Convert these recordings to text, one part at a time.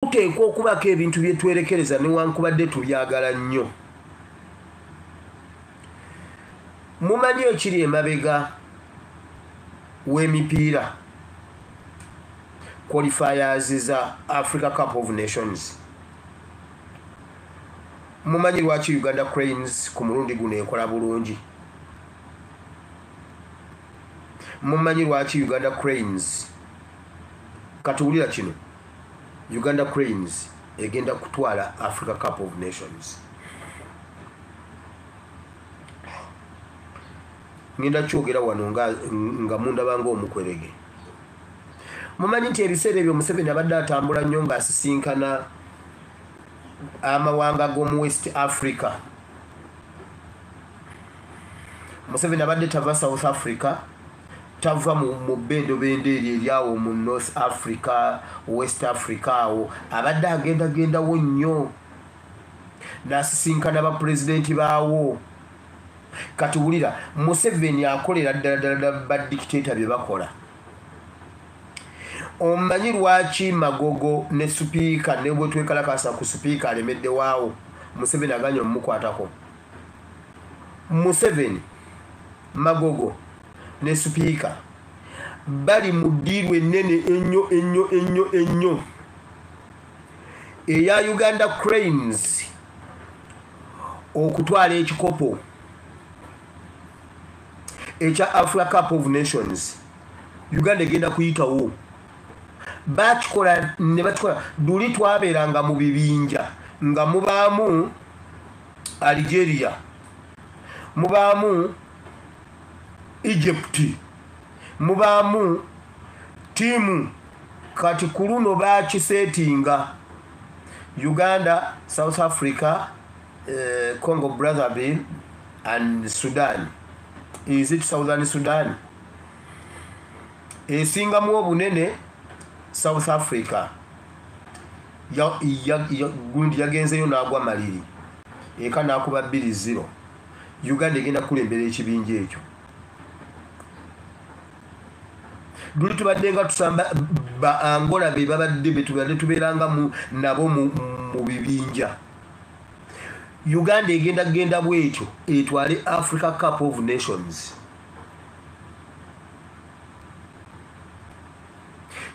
tuteekwa okubaako ebintu bye twerekereza newankubadde tubyagala nnyo mumanyi ekiri emabega w'emipiira qualifiers za africa cup of nations mumanyi lwaki uganda cranes ku mulundi guno ekola bulungi mumanyi lwaki uganda cranes katuwulira kino Uganda Cranes egenda kutwala Africa Cup of Nations. Ngenda kyogera wano nga, nga munda bango omukwerege. Mumanyi nti ebiseera ebyo Museveni abadde atambula nnyo ng'asisinkana amawanga g'omu West Africa. Museveni abadde tava South Africa. tava mu bendobendo eryo eryawo mu north africa west africa awo abadde agendagendawo nnyo nasisinkana bapulezidenti baawo kati wulira museveni akolera ddala ddala badikiteta bye bakola omanyi lwaki magogo ne supiika ne bwe twekalakasa ku supiika alemeddewaawo museveni aganya omumukwatako museveni Magogo ne Sipiika bali mu ddiiru ennene ennyo ennyo ennyo ennyo eya Uganda Cranes okutwala ekikopo ekya Africa Cup of Nations Uganda egenda kuyitawo bakikola ne bakikola luli twabeeranga mu bibinja nga mubaamu Algeria mubaamu egypt mubaamu tiimu kati ku luno bakiseetinga uganda south africa uh, congo brotherville and sudan is it southern sudan esingamu obunene south africa gundi yagenzeyo naagwa maliri eka nakuba bbiri zero uganda egenda kukulembera ekibinja ekyo luli tubadde nga tusamba ba angola be babadde betubadde tubeeranga nabo mu bibinja uganda egenda kugenda bwetyo etwale africa cup of nations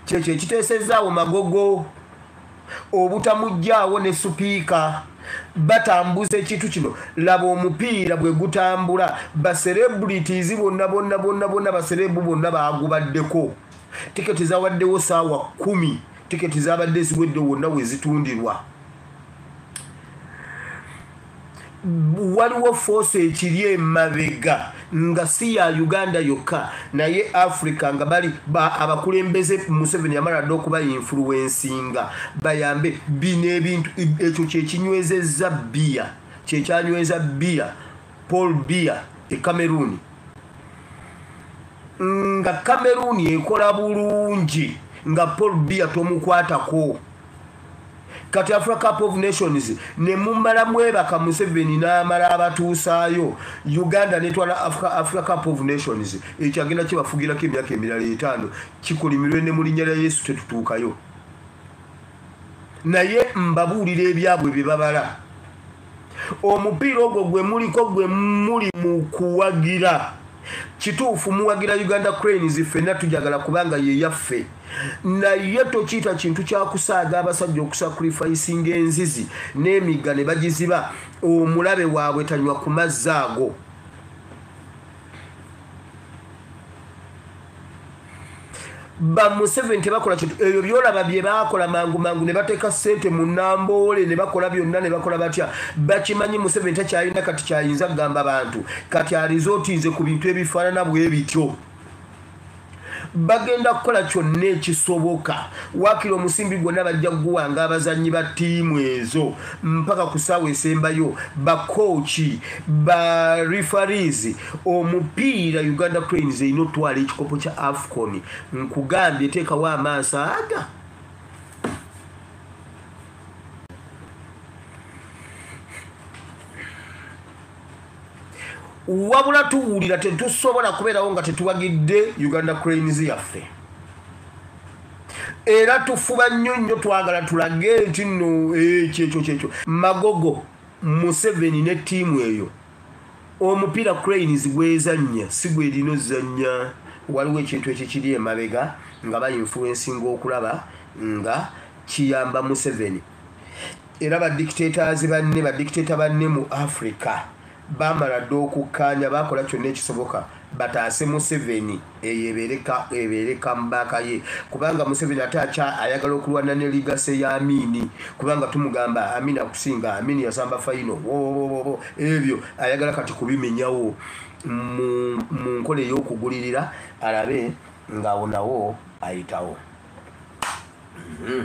kyekyo ekiteesezaawo magogo obutamuggyaawo ne supiika batambuza ekintu kino laba omupiira bwe gutambula baserebrities bonna bonna bonna bonna baserebu bonna baagubaddeko tiketi zawaddewo saawa kumi tiketi zabadde ziwedde wonna we zitundirwa waliwo foosi ekiri emabega nga si ya uganda yokka naye africa nga bali abakulembeze museveni yamala dda okuba influensinga bayambe bino ebintu ekyo kyekinywezezza biya kyekyanyweza biya paul biya e cameroon nga cameroon ekola bulungi nga paul biya tomukwatako kati africa cup of nations nemumala mwebaka museveni namala abatuusaayo uganda netwala africa cup of nations ekyo agenda kibafugirako emyaka emirala etaano kikolimirwe ne mulinya lya yesu tetutuukayo naye mbabuulira ebyabwe bye babala omupiira ogwo gwe muliko gwe muli mu kuwagira kituufu muwagira uganda cranes ffenna tujagala kubanga ye yaffe naye tokiyita kintu kyakusaaga abasajja okusakrifaisinga enzizi n'emigga ne bagiziba omulabe waabwe tanywa ku mazzi ago bamuseveni tebakola kintu ebyo byolaba byebakola mangu mangu nebateeka sente mu namboole nebakola byonna nebakola batya bakimanyi museveni takyalina kati kyayinza kugamba bantu kati arizotinze ku bintu ebifaanana bwe bityo bagenda kukola kyonna ekisoboka wakira omusimbi gwonna bajja kuguwanga abazannyi ba ttiimu ezo mpaka ku saawa esembayo bakooki ba refarizi omupiira uganda cranes erina otwala ekikopo kya afcon nkugambye teekawo amaaso aga wabula tuwulira tetusobola kubeerawo nga tetuwagidde uganda cranes yaffe era tufuba nnyo nnyo twagala tulage nti nno ekyekyo eh, kyekyo magogo museveni ne ttiimu eyo omupira cranes gwezannya si gwerina ozannya waliwo ekintu ekikiri emabega nga bainfluensinga okulaba nga kiyamba museveni era badictators banne badictator banne mu africa bamala dda okukkaanya bakola kyonna ekisoboka bataase museveni eyo ebeere kambaaka ye kubanga museveni ate akya ayagala okulwana ne ligase ya amini kubanga tumugamba amini akusinga amini yasamba faino wowowowo ebyo ayagala kati kubimenyawo mu nkola ey'okugulirira alabe ng'awo nawo ayitawo mm -hmm.